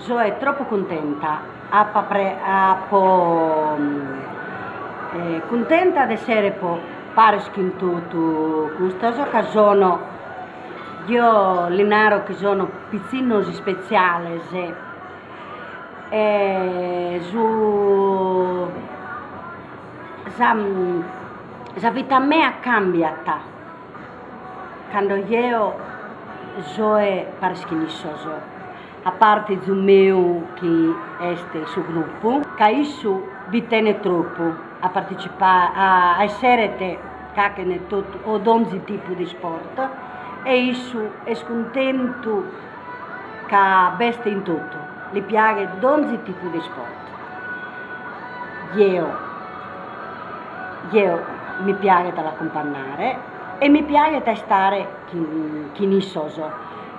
Soe tropu cuntenta a po cuntenta de essere po paris chin totu custos ca sono io li naro chi sono pizzinnos ispetziales e su Sa vita mea cambiat cando eo soe paris chin issos, a parte izu meu chi est su gruppu, ca issu bi tenet tropu a partecipare a esseret cachin e totu o donzi tipu de isport e issu est cuntentu ca b'est in totu, li piaghet donzi tipu de isport Eo, eo mi piaghet a l'acumpannare e mi piaghet a istare chin chin issos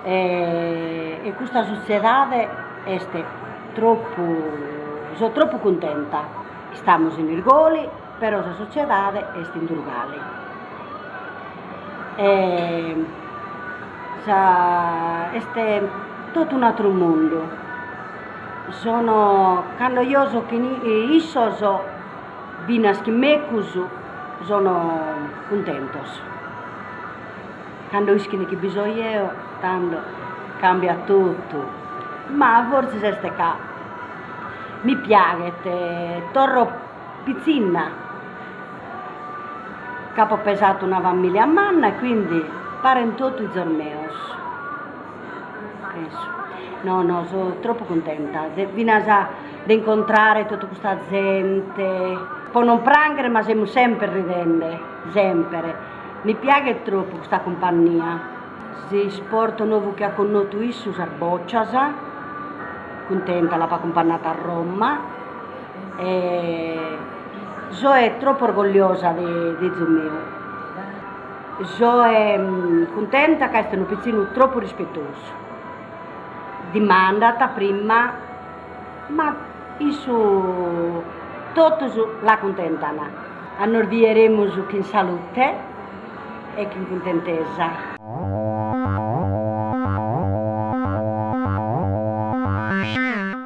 e custa sutziedade est troppu so troppu cuntenta, istamus in Irgoli Però sa sotziedade est in Durgali e est totu un'atru mundu, sono cando io so chin issos finas chin mecus sono cuntentos, cando ischin chi bi so io tando cambiat totu, ma forsis est ca mi piaghet torro Pitzinna, ch'apo pesatu una famìlia manna e quindi parent totu izos meos. No no so tropu cuntenta finas de incontrare totu custa zente, po non pranghere ma semus semper ridende, semper, mi piaghet tropu custa cumpannia, s'isportu novu chi at connotu issu sas bòcias, cuntenta l'apo acumpannatu a Roma E soe tropu orgogliosa de izu meu. Soe cuntenta ca est unu pitzinu tropu rispetosu. Dimandat prima, ma issu totus l'acuntentan. A nos bieremus chin salute e chin cuntentesa.